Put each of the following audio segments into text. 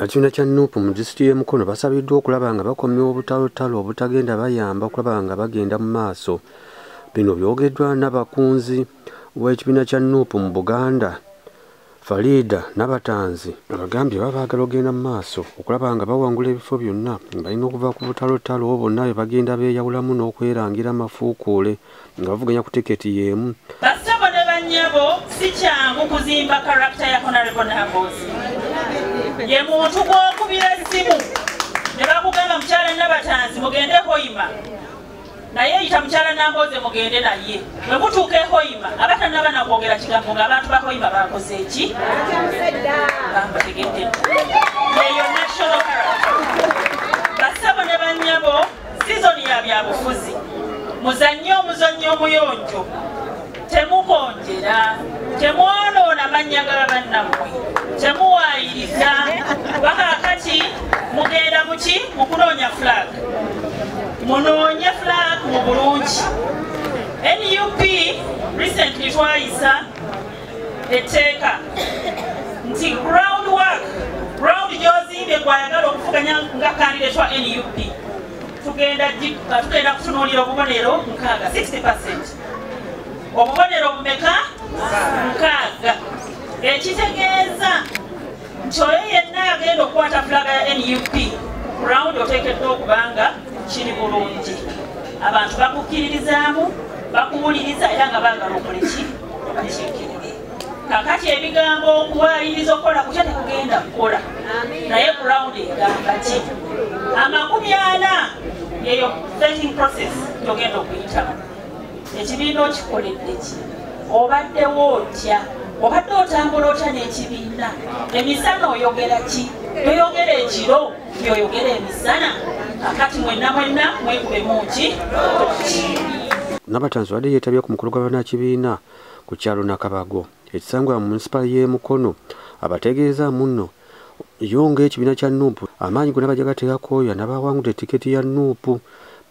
Ekibiina kya nup mu disitulikiti y'e Mukono basabiddwa okulaba nga bakomya obutalotalo obutagenda bayamba okulaba nga bagenda mu maaso. Bino byogeddwa n'abakunzi w'ekibiina kya nup mu Buganda. Faridah Nabatanzi abagambye baba baagala ogenda mu maaso okulaba nga bawangula ebifo byonna nga balina okuva ku butalotalo bonna bwe bagenda beeyawulamu n'okwerangira amafuukuule nga bavuganya ku tiketi y'emu. Bassebo ne bannyabo si kyangu kuzimba karakita ya Honorable Namboozi. Ye muntu gw'okubira essimu ne bakugamba mukyala Nabatanzi mugende Hoima. naye yita mukyala nambooze mugende naye bwe mutuuka ehoima aba tanaba nakwogera kigambo nga abantu bahoima bakoze eki bamutegedde eyo national character basabo ne banyabo sizoni ya byabufuzi muzannye omuzannyo omuyonjo temukonjera temwonoona mannya ga bannammwe temuwaayiriza bakakati mugenda muki mukunoonya flag munoonye flag mu bulungi nup recently twayisa etteeka nti ground work ground gyozimbye gwayagala okuvuganya nga kandidatwa nup tugenda kutunuulira obubonero nkaaga 60 obubonero bumeka mukaaga ekitegeeza nti oyo yenna agenda okukwata fulaga ya nup rawundi oteekeddwa okubanga kiri bulungi abantu bakukkiririzaamu bakuwuliriza era nga baagala okuleki obakiikirire kakati ebigambo okuwayiriza okukola kutya tekugenda kukola naye ku rawundi egamba ki amakumi ana yeyo vetting process gyogenda okuyitamu ekibiina okikoledde ki obaddewo otya obadde otambula otya n'ekibiina emisana oyogera ki toyogera ekiro yoyogera emisana kakati mwenna mwenna mwekubemu ki nabatanzi wadde yeetabye ku mukulu gw'abanakibiina ku kyalo nakabago ekisangwa mu munisipaali y'e mukono abategeeza munno yo ng'ekibiina kya nuupu amaanyi gonna bajaga teyakoya nabaawangudde tiketi ya nuupu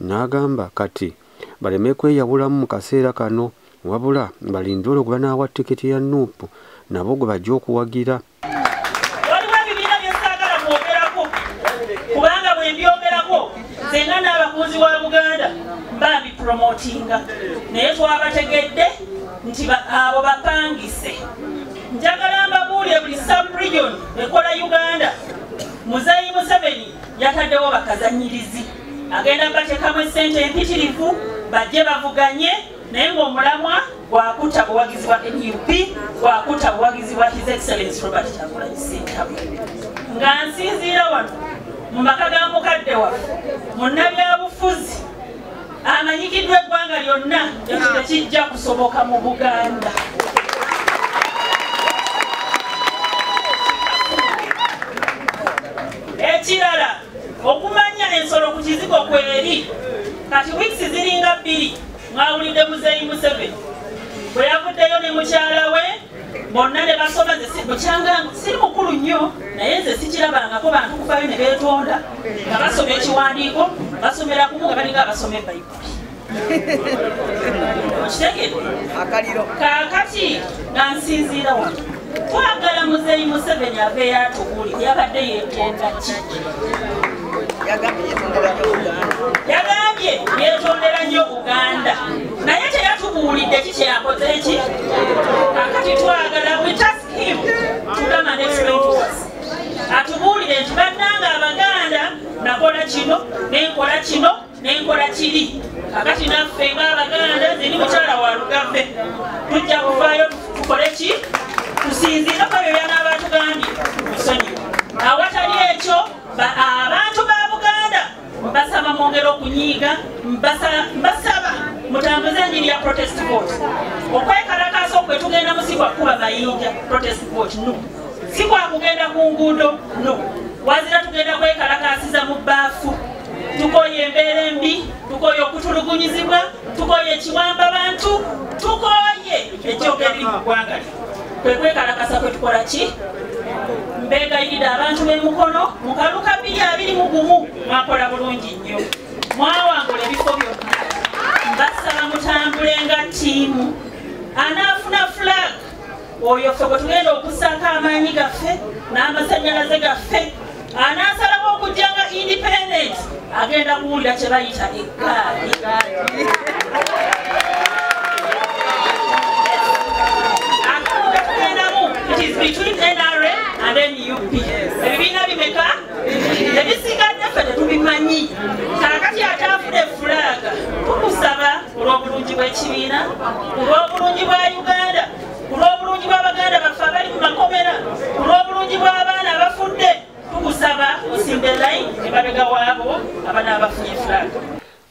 n'agamba kati baleme kweyawulamu mu kaseera kano wabula balinde olwo gwe banaawa tiketi ya nuupu nabo gwe bajja okuwagira waliwo ebibiina bye saagala kwogerako kubanga bwe mbyogerako senga n'abakunzi wa buganda bambi promotinga naye twabategedde nti abo bapangise njagala mbabuulire buli subregion ekola uganda muzeeyi museveni yataddewo bakazanyirizi agenda batekamu esente empitirivu bajje bavuganye naye ngaomulamwa gwakuta buwagizi bwa nup gwakuta buwagizi bwa his excellence robert kyagulanyi sentabu nga nsinziira wano mu maka ga mukadde waffe munnabyabufuzi amanyikiddwa eggwanga lyonna ekyo tekijja kusoboka mu buganda ekirala okumanya ensolo ku kizigo kweri kati wiks ziringa bbiri mwawulidde muzeeyi museveni bwe yavuddeyo ne mukyala we bonna ne basoma bukyanga siri mukulu nnyo naye nze sikirabangako bantu kuvayo ne beetonda nga basoma ekiwandiiko basomera kumu nga balinga abasoma ebayibuli okitegere kakati nga nsinziira wano twagala muzeyi museveni aveyo atubuli yabadde yetenda ki yagambye yetondera nnyo buganda naye teyatubuulidde ki kyeyakoze ki kakati twagala we task him to come and explain to us atubuulire nti bannanga abaganda nakola kino nenkola kino nenkola kiri kakati naffe ngaabaganda ziri mukyala wa lugave tujja kuvaayo tukole ki tusinziire ko byo byana abatugambye musonyiwa awatali ekyo abantu ba mbasaba mwongere okunyiiga mbasaba mutambuze enjiri ya protest vote okwekalakaasa okwe tugendamu si kwakuba mayinja protest vote no si kwakugenda ku nguudo no wazira tugenda kwekalakaasiza mu baafu tukoye embeera embi tukoye okutulugunyizibwa tukoye ekiwamba bantu tukoye ekyogeri mu ggwanga kwe kwekalakasa kwe tukola ki mbegayiride abantu b'emukono mu kaluka biri abiri mu gumu mwakola bulungi nnyo mwawangula ebifo byonna mbasaba mutambule nga ttiimu anaafuna flag oyo ffe bwe tugenda okusaako amaanyi gaffe n'amasanyalaze gaffe anaasalawo okujja nga independent agenda kuwulira kye bayita eggaali ebibiina bimeka ebisigadde ffe tetubimanyi kakati ataafude fulaaga tukusaba olw'obulungi bw'ekibiina olw'obulungi bwa uganda ku lw'obulungi bwa baganda baffe abali mu makomera ku lw'obulungi bw'abaana abafudde tukusaba osimbe line emabega waabo abanaabafunye flag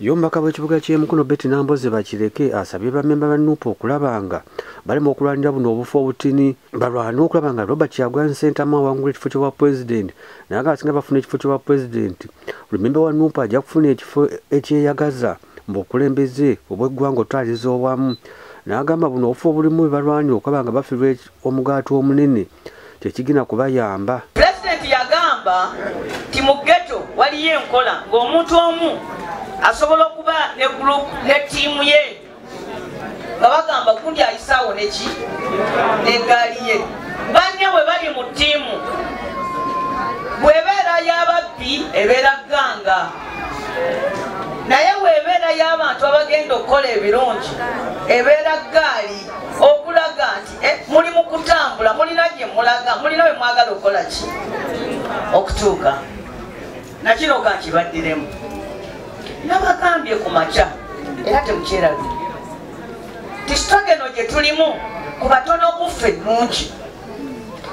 yombaka bwekibuga kyemukono beti namboze bakireke asabye bamemba ba nup okulaba nga balema okulwanira buno obufu obutini balwane okulaba nga robert kyagwan sentamu awangula ekifo kyobwa pulezidenti naye nga asinga bafuna ekifo kyobwa pulezidenti remembe wa nup ajja kufuna ekifo ekyeyagaza mbu okulembeze obweggwanga otwaliza owamu n'agamba buno obufu obulimu bebalwanya okwaba nga bafirwa omugaati omunene kyekigina kubayamba pulezidenti yagamba nti mu geto waliyo enkola ng'omuntu omu asobola okuba ne group ne tiimu ye nga bagamba gundi ayisaawo neki negaali ye banne bwe bali mu tiimu bwebeera yababbi ebeera gganga naye weebeera y'abantu abagenda okukola ebirungi ebeera gaali okulaga nti eh, muli mu kutambula mulina gye mulaga mulina bwe mwagala okukola ki okutuuka nakino ka nkibaddiremu nabagambye ku makya era temukyerabye tisitogeno gye tulimu ku batono kuffe nungi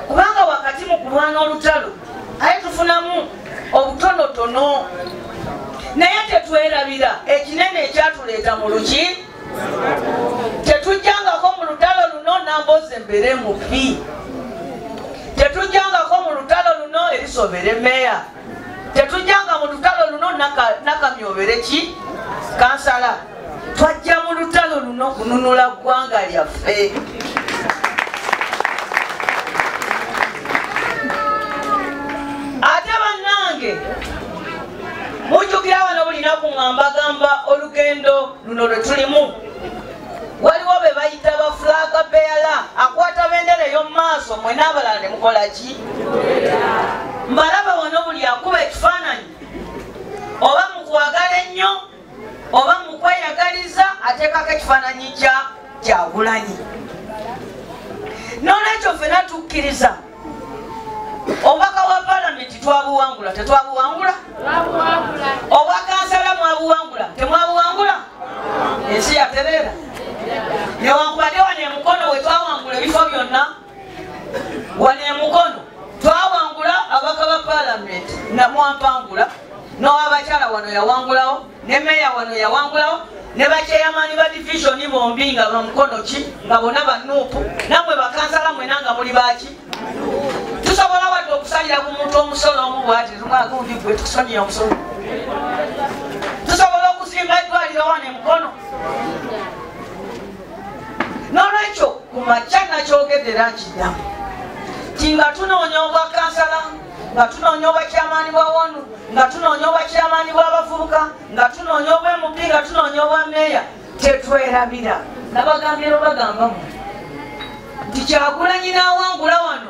kubanga wakati mu kulwana olutalo aye tufunamu obutonotono naye tetwerabira ekinene ekyatuleeta mu luki tetujjangako mu lutalo luno nambozi embere mubi tetujjangako mu lutalo luno erisobere meya tetujjanga mu lutalo luno nakamyobere ki kansala twajja mu lutalo luno kununula ggwanga lyaffe ate bannange mujjukira bano bulina ku ngambagamba olugendo luno lwe tulimu waliwo be bayita bafulaga beyala akwata bendera ey'omu maaso mwe n'abalala ne mukolaki ki mbalaba wano buli akuba ekifaananyi oba mukwagala ennyo oba mukweyagaliza ateekako ekifaananyi kya kyagulanyi nolwekyo fena tukkiriza obubaka bwa palamenti twabuwangula tetwabuwangula obwakansala mwabuwangula temwabuwangula ensi yatereera newankubadde wano emukono wetwawangula ebifo byonna wano emukono twawangula abaka ba palamenti namwampangula nowabakyala wano yawangulawo ne meya wano yawangulawo ne bakyeyamani ba divisioni bombi nga bamukono ki nga bona banuupu namwe bakansala mwena nga muli baki tusobola wadde okusalira ku muntu omusolo omu bwati lumwaka undi gwe tukusonyiya omusolo tusobola okuzimba eddwaliro wano emukono n'olwekyo ku makya nakyogedde era nkiddamu ti nga tunoonya obwa kansala nga tunoonya obwa kyamaani bwa wonu nga tunoonya obwa kyamaani bw'abavubuka nga tunoonya obwa mp nga tunoonya obwa meeya tetwerabira nabagambye lwebagamba mu nti kyagulanyi n'awangula wano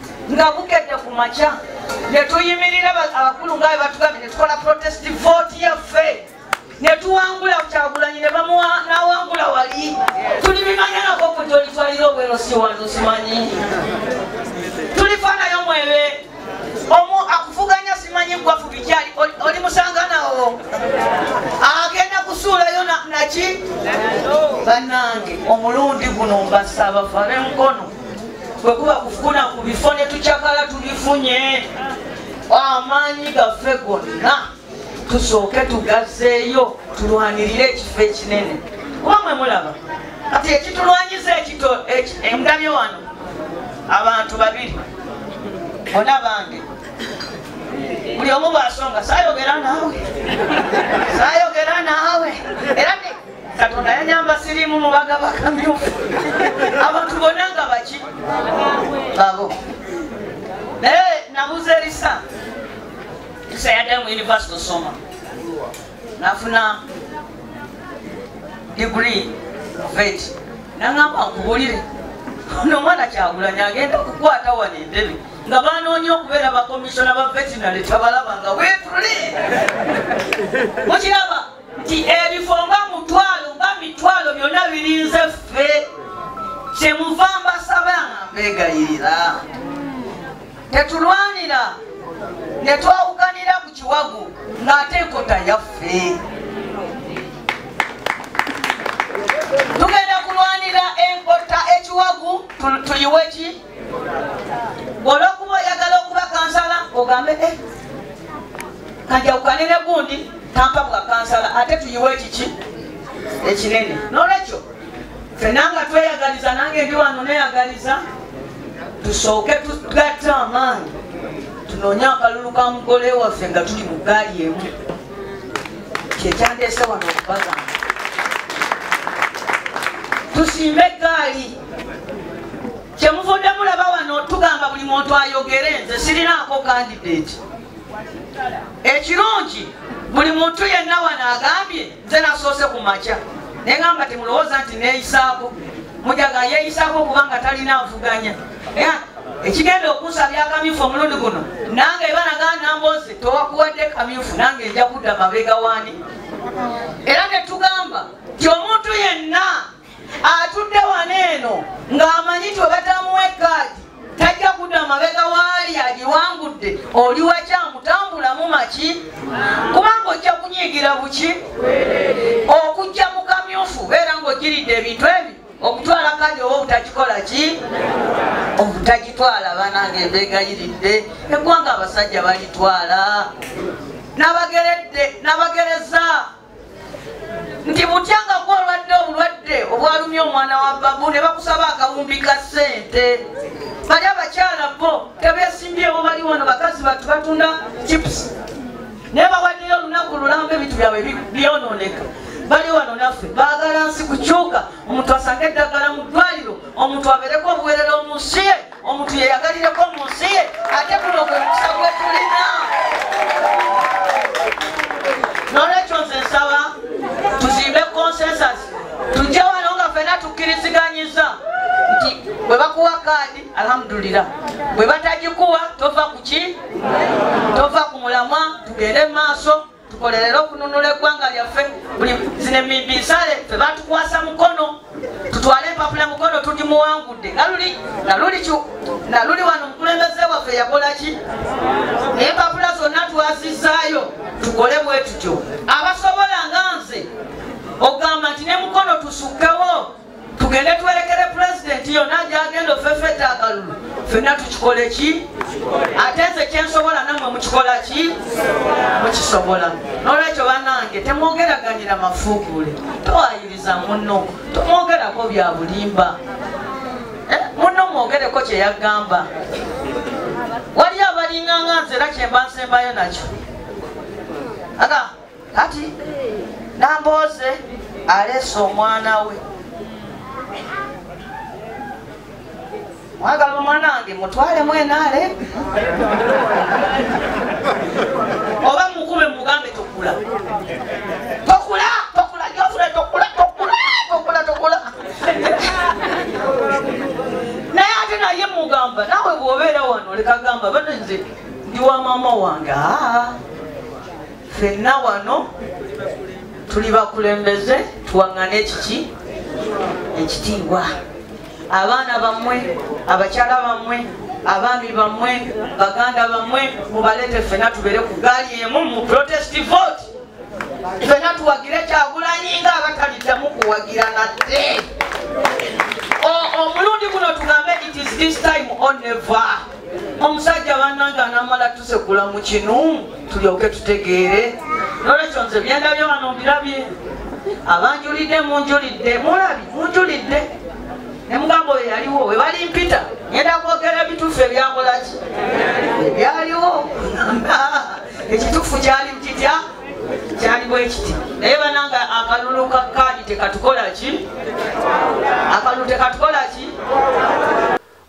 nga bukedde ku makya netuyimirira abakulu nga bebatugambye netukola protest vote yaffe netuwangula kyagulanyi nebamuwa nawangula wali tuli bimanyanako kujolitwalira obwero siwano simanyi tulifanayo mwebe omu akufuganya simanyi gwafu bikyali oli musanganawo agenda kusuulayo naki banange omulundi guno mbasaba fare mukono bwe kuba kufuna ku bifo ne tucakala tubifunye amaanyi gaffe gonna tusooke tugazeeyo tulwanirire ekifo ekinene kuba mwe mulaba kati ekitulwanyisa ekito emudabye wano abantu babiri bona bange buli omu bwasonga sayogera naawe sayogera naawe era katonda yanyamba sirimu mubaga bakamyufu abantu bona nga baki babo naye nabuza erisa isa yaddayo mu univesity osoma nafuna digri vet nangamba nkubulire nomwana kyagulanya agenda kukwata wano endebe nga banoonya okubeera bakomisiona ba vetinary tabalaba nga wetuli mukiraba nti ebifo nga mutwalo nga mitwalo byonna birinze ffe kyemuva mbasaba mbegayirira tetulwanira ne twawukanira ku kiwagu ng'ate enkota yaffe tugenda kulwanira enkota ekiwagu tuyiwe ki olwokuba oyagala okuba kansala ogambe eh, kanjawukane ne gundi tampa bwa kansala ate tuyiwe ekiki ekinene nolwekyo fena nga tweyagaliza nange ndi wano neyagaliza tusooke tugatta amaanyi tunoonye akalulu ka mugole waffe nga tuli mu gaali emu kyekyandeese wano okubagamba tusiime egaali kyemuvudde mulaba wano tugamba buli muntu ayogere nze sirinaako kandidate ekirungi buli muntu yenna wano agambye nze nasoose ku makya naye gamba timulowooza nti neyisaako mujaga yeyisaako kubanga talina avuganya ekigenda okusa byakamyufu omulundi guno nange banagaa namboze towakuwadde kamyufu nange nja kudda mabega wani era netugamba ti omuntu yenna atudde wano eno ng'amanyi ti webatamuwa ekaadi tajja kudda amabega waali agiwangudde oli wakyamutambulamu maki kubanga ojja kunyiigira buki okujja mu kamyufu beera ng'ogiridde ebintu ebi okutwala kaadi oba obutagikola ki obutagitwala banange embeegayiridde eggwanga abasajja balitwala nabageredde nabagereza nti butya nga gwe olwadde obulwadde obwalumya omwana wa babu ne bakusaba akawumbi ka ssente bali abakyala bo tebesimbyewo bali wano bakazi batu batunda chips naye bawaddeyo olunaku lulamba ebintu byabwe byononeka bali wano naffe baagala nsi kukyuka omuntu asange eddagala mu ddwaliro omuntu abeereko obuwerera omunsi ye omuntu yeyagalireko mu nsi ye ate guno gwe mukisa gwe tulina nolwekyo nze nsaba tuzimbe consensus tujje wano nga fena tukkiriziganyiza nti bwe bakuwa kaadi alhamdulira bwe batagikuwa tova kuki tova ku mulamwa tugende mu maaso tukolerere okununula eggwanga lyaffe buli zino emibinsale fe batukwasa mukono tutwale empapula mukono tuli muwangudde naluli naluli naluli wano omukulembeze waffe yakola ki naye empapula zonna twazizaayo tukole bwetutyo abasobola nga nze okugamba nti ne mukono tusukkewo tugende tuwerekere pulezidenti yonna gyagenda ofefeta akalulu fenna tukikole ki ate nze kyensobola namwe mukikola ki mukisobola nolwekyo banange temwogeraganira mafuukuule towayiriza muno tomwogerako bya bulimba eh, muno mwogereko kyeyagamba waliyo abalinganga nze era kyemba nsembayo nakyo aga kati nambooze aleese omwana we mwagala omwana wange mutwalemu enaale oba mukube mugambe tokula tokula tokula jofre tokula tokula tokula tokula naye ate naye mugamba nawe bwobeera wano lekagamba bano nze ndi wa maama wange aa fenna wano tuli bakulembeze tuwaŋŋane ekiki ekitiibwa abaana bammwe abakyala bammwe abaami bammwe baganda bammwe mubaleete fenna tubeere ku gaali emu mu protest vote fenna tuwagire kyagulanyi nga abataliddamu kuwagira nate omulundi guno tugambe it is this time on never omusajja banange anamala tusekula mu kinu tulyoke tutegeere nolwekyo nze byendabye wano mbirabye abanjulidde munjulidde mulabi munjulidde nemugamba oyo yaliwo webali mpita ngenda kwogera ebituufu ebyakolaki ebyaliwo ekituufu kyali kitya kyali bwekiti naye bananga akalulu ka kaadi tekatukolaki akalulu tekatukolaki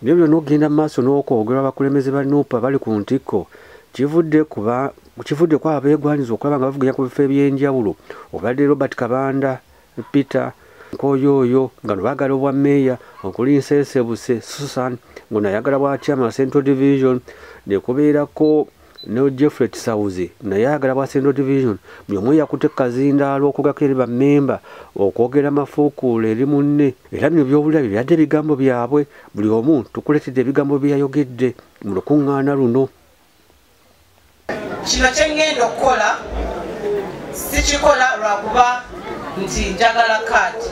Bino byonna okugenda mu maaso n'okwogerwa abakulembeze ba nuupa bali ku ntikko kivudde kuba kivudde ku abeegwanyiza okulaba nga bavuganya ku bifo eby'enjawulo obadde robert kabanda peter nkoyooyo nga nobagala obwa meeya okuli nsensebuse susan ngono ayagala bwa chairman central division nekubeerako ne jeffrey kisawuzi naye ayagala bwa central division buli omu eyakutte kazindaalo okugako eri bammemba okwogera amafuukuula eri munne era bino byobulira bye byadde ebigambo byabwe buli omu tukuleetedde ebigambo bye yayogedde mu lukuŋŋaana luno kino kye ŋŋenda okukola sikikola lwakuba nti njagala kaadi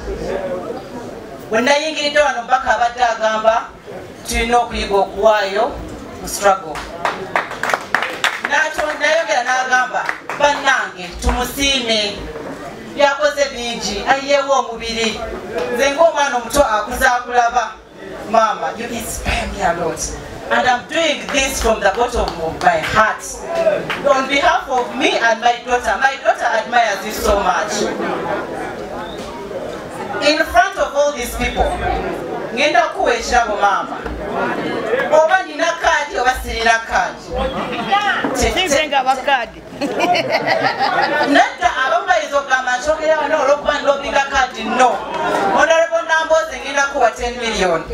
bwe nayingiridde wano mpaka abadde agamba tulina okuyiga okuwaayo mu struggle nayogera n'agamba bannange tumusiime byakoze bingi ayiyewo omubiri nze ngaomwana omuto akuza akulaba maama you inspire me a lot and i'm doing this from the bottom of my heart on behalf of me and my daughter my daughter admires you so much in front of all these people ngenda kukuwa ekirabo maama oba nina kaadi oba sirina kaadi nadda abamu bayinza okugamba nkyogera wano olwokuba ndobiga kaadi no onalebo namboozi ngenda kuwa 10 million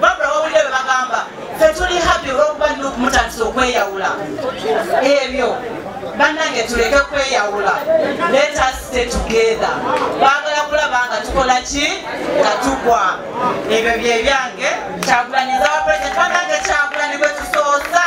babula wawulire bwe bagamba fe tuli happy olwokuba nina okumutandisa okweyawula ebyo bannange tuleke kweyawula let us stay together baagala kulaba nga tukola ki nga tugwa ebyo byebyange kyagulanyiza wa president bannange kyagulanyi gwe tusoosa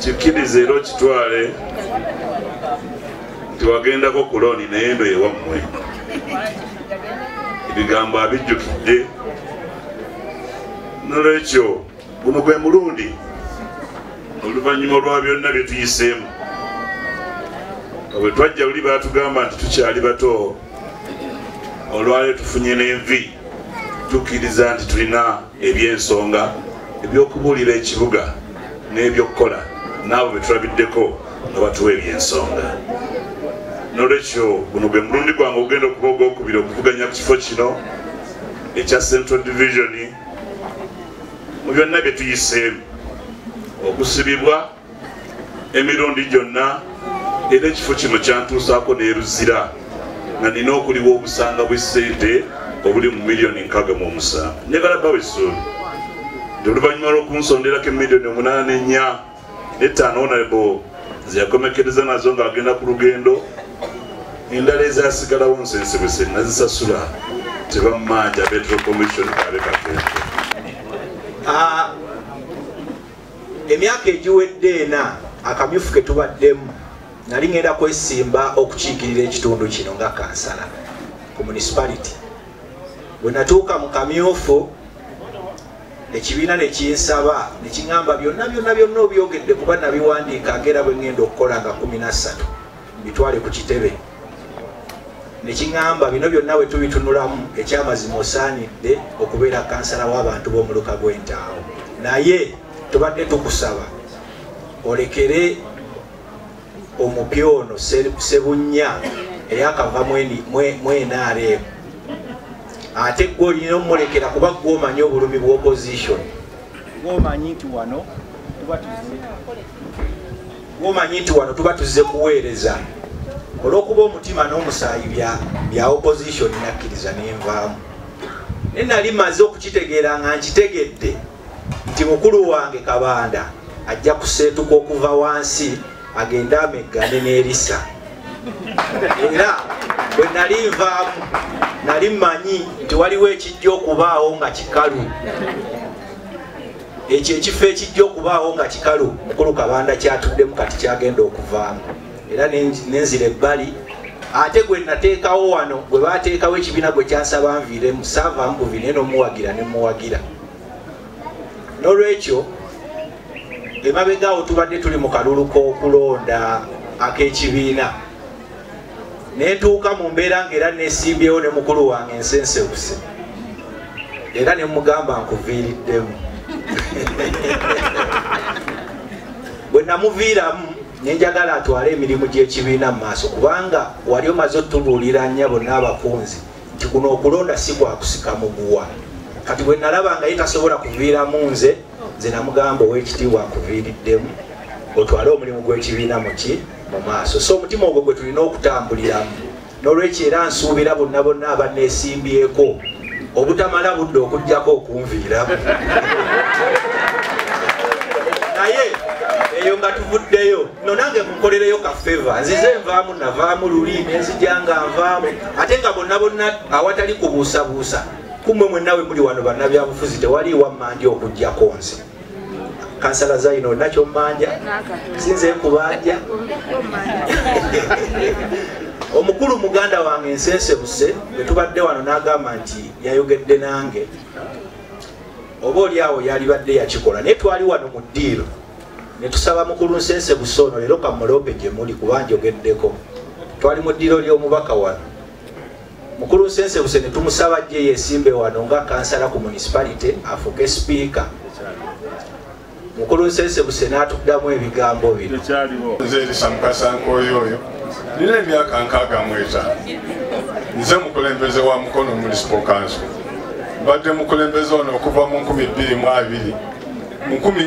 kikkiriza era okitwale nti wagendako ku looni naye eno ewammwe ebigambo abijjukidde nolwekyo guno gwe mulundi oluvannyuma olwa byonna bye tuyiseemu bwe twajja buli batugamba nti tukyali bato olwalyo tufunye n'envi tukkiriza nti tulina eby'ensonga eby'okubuulira ekibuga n'ebyokukola n'abo be tulabiddeko nga batuwa eby'ensonga nolwekyo guno gwe mulundi gwange ogenda okuba ogwokubiri okuvuganya ku kifo kino ekya central division mu byonna bye tuyiseemu okusibibwa emirundi gyonna era ekifo kino kyantuusaako neruzira nga nina okuliwa obusanga bw'essente obuli mu miliyoni nkaga mu omusanvu njagala bawa essuubi nti oluvannyuma lw'okunsonderako emiliyoni omunaana n'ennya n'ettaano onalebo zeyakomekereza nazo ng'agenda ku lugendo endala ezasigalawo nsensebese nazisasula tebammanja betro commission abekagendo ah, emyaka egiwedde ena akamyufu ke tubaddemu nali ŋenda kwesimba okukiikirira ekitundu kino nga kansala ku municipality bwe natuuka mu kamyufu ekibiina ne kinsaba ne kiŋamba byonna byonna byonna obyogedde kuba nabiwandiika ngaera bwe ŋenda okukola nga kumi nassatu bitwale ku kitebe nekiŋamba bino byonna bwe tubitunulamu ekyamazima osaanidde okubeera kansala w'abantu b'omuluka gw'entaawo naye tubadde tukusaba olekere omupya ono sebunnya eyakava mwenaremu ate gwe olina omulekera kuba gwe omanyi obulumi bwa opposition gwomanyi nti wano tuba tuzi womanyi nti wano tuba tuzze kuweereza olwokuba omutima n'omusaayi bya opposition nakkiriza nenvaamu naye nali maze okukitegeera nga nkitegedde nti mukulu wange kabanda ajja kuseetuka okuva wansi agende ameggane n'erisa era bwe nali nvaamu nali mmanyi nti waliwo ekijja okubaawo nga kikalu ekyo ekifo ekijja okubaawo nga kikalu mukulu kabanda kyatuddemu kati kyagenda okuvaamu era nenzira ebbali ate gwe nateekawo wano gwe bateekawo ekibiina gwe kyansaba nviiremu saava mbuvi naye nomuwagira nemuwagira nolwekyo emabegaawo tubadde tuli mu kalulu k'okulonda ak'ekibiina netuuka mu mbeera nga era nesimbyewo ne mukulu wange ensensewuse era ne mugamba nkuviiriddemu bwe namuviiramu nenjagala atwale emirimu gy'ekibiina mu maaso kubanga wali omaze otubuulira nyabo n'abakunzi nti kuno okulonda si kwakusika muguwa kati bwe nalaba nga ye tasobola kuviiramu nze nze namugamba ow'ekitiibwa nkuviiriddemu otwale omulimu gw'ekibiina muki mu maaso so omutima ogwo gwe tulina okutambuliramu n'olwekyo era nsuubira bonna bonna abaneesimbyeko obutamala budde okugjako okunviiramu naye eyo nga tuvuddeyo no nange munkolereyo kafeva nzize nvaamu navaamu luli nenzija nga nvaamu ate nga bonna bonna awatali kubuusabuusa kumwe mwennawe muli wano bannabyabufuzi tewali wammandi okugjako nze kansala zaino olina kyommanja sinze kubanja omukulu muganda wange ensensebuse bwetubadde wano n'agamba nti yayogedde nange oba oli awo yalibadde yakikola naye twali wano mu ddiiro netusaba mukulu nsensebuse ono leero kamuloope gye muli kuba njogeddeko twali mu ddiiro ly'omubaka wano mukulu nsensebuse ne tumusaba jje yesimbe wano nga kansala ku municipality afuuke sipiika mukulu nsensebuse n'atuddamu ebigambo bino nze erisa mukasankooyo oyo nina emyaka nkaaga mu etaano nze mukulembeze wa mukono municipal council mbadde mukulembeze ono okuva mu 2 mu 2 mu 1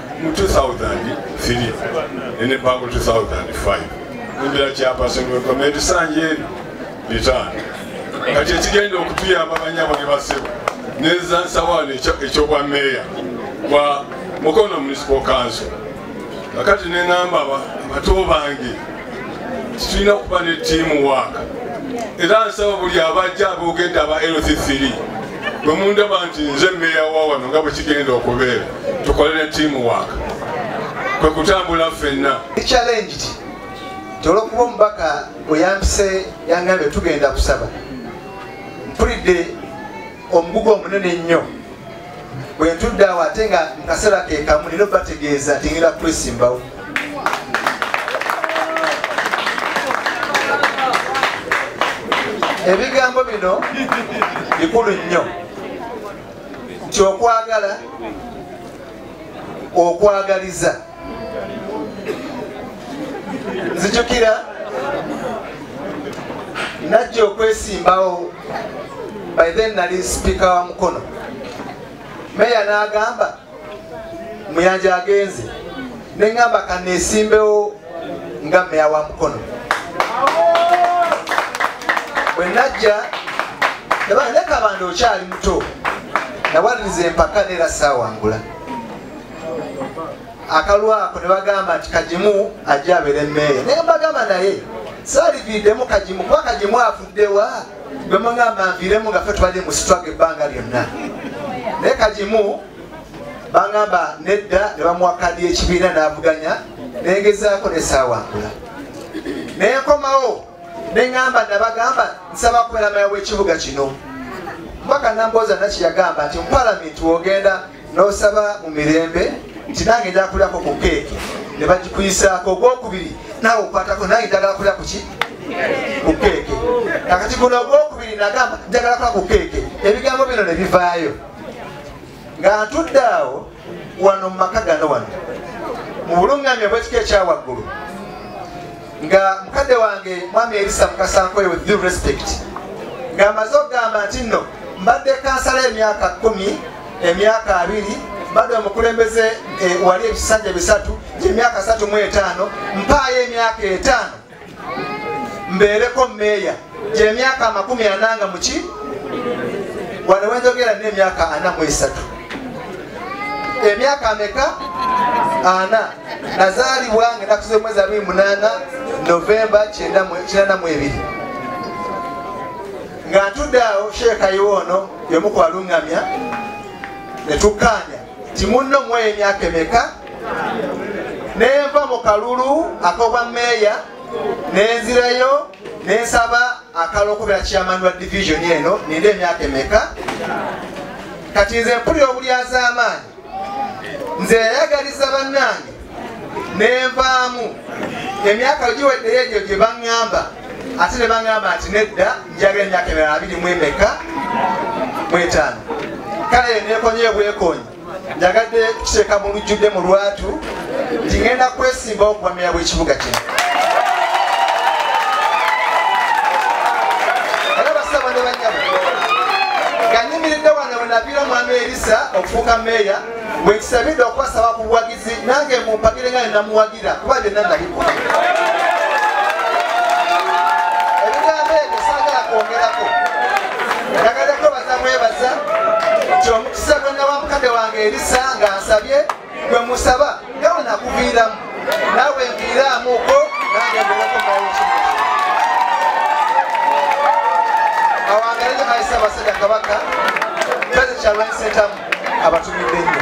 mu 2003 nene bango 2005 nembera chairperson wa community sanje eno bitaano kati ekigenda okutuyamba banyabo ne basebo neza nsawaano ekyobwa meeya wa mukono municipal council kakati nengamba abato bange tulina okuba ne tiimu waaka era nsaba buli abajja aboogedde aba lc3 bwe mundaba nti nze meeya wa wano nga bwe kigenda okubeera tukolere tiimu waaka kwe kutambula ffenna challenged tolwokuba omubaka weyambise yangambye tugenda kusaba mpulidde omugugu omunene ennyo bwentudde awo ate nga mukaseera kekamu nina obategeeza tingenda kwesimbawo ebigambo bino bikulu nnyo nti okwagala okwagaliza nzijukira najja okwesimbawo by then nali sipiika wa mukono meya n'agamba muyanja agenze neŋamba kanesimbewo nga meya wa mukono bwenajja leka bandi okyali muto nawaliriza empaka neera saawangula akalwako ne bagamba nti kagimu ajja abeere meeya naye mbagamba naye saaliviiddemu kagimu kuba kagimu afuddewa bwemugamba nviiremu nga fe tubadde musitwaga ebbanga lyonna naye kagimu bangamba nedda ne bamuwa kadi ekibiina n'avuganya nengezaako nesaawangula naye nkomawo neŋamba nabagamba nsaba kubeera maya w'ekibuga kino mubaka nambooza naki yagamba nti mu palamenti wogenda n'osaba mu mirembe nti nange njala kulyako ku keeki ne bagikuyisaako ogwokubiri naawe okwatako nange njagala kulya kuki ku keeke kakati guno ogwokubiri nagamba njagala kulya ku keeke ebigambo bino ne bivaayo nga ntudde awo wano mu maka gano wano mu bulungamya bwekika ekyawaggulu nga mukadde wange mwami erisa mukasankweyo with due respect ng'amaze okugamba nti nno mbadde kansala emyaka kumi emyaka abiri mbadde omukulembeze eh, wali ebisanja bisatu gyemyaka satu mu etaano mpaayo emyaka etaano mbeereko meeya gyemyaka amakumi ananga muki wano wenjogera nina emyaka ana mu esatu emyaka ameka ana nazaalibwa nga enaku z'omwezi abiri munaana novemba kinana mu ebiri nga ntudde awo sheekayiwa ono yomu ku baluŋŋamya ne tukkaanya ti munno mu eyo emyaka emeka nenva mu kalulu ak'obwa meeya nenzirayo nensaba akala okubera chairman wa division eno ninde emyaka emeka kati nze mpulira obulyazamaanyi nze yayagaliza bannange nenvaamu emyaka giweddeyo egyo gye baŋŋamba ate ne baŋŋamba nti nedda njagala emyaka emirala abiri mu emeka mwetaano kale nekonye bwekonyi njagadde kuteeka mu lujjudde mu lwatu nti ŋenda kwesimba okubamira bw'ekibuga kino era basaba ne banyabo ganyimiridde wano bwe naviira omwami erisa okufuuka meeya bwe kisabidde okwasaba ku bwagi nange mumpagire nga nenamuwagira kuba byonna nalimu ebigambo ebyo sagala kwongerako nagadako bazamwebaza nti omukisa gwenawa mukade wange erisa nga nsabye gwe musaba nga wenakuviiramu nawe nviiraamuko nange mbereko mawoki awangalire maisa abasajja kabaka peze kyalwanyisentamu abatumidde nnyo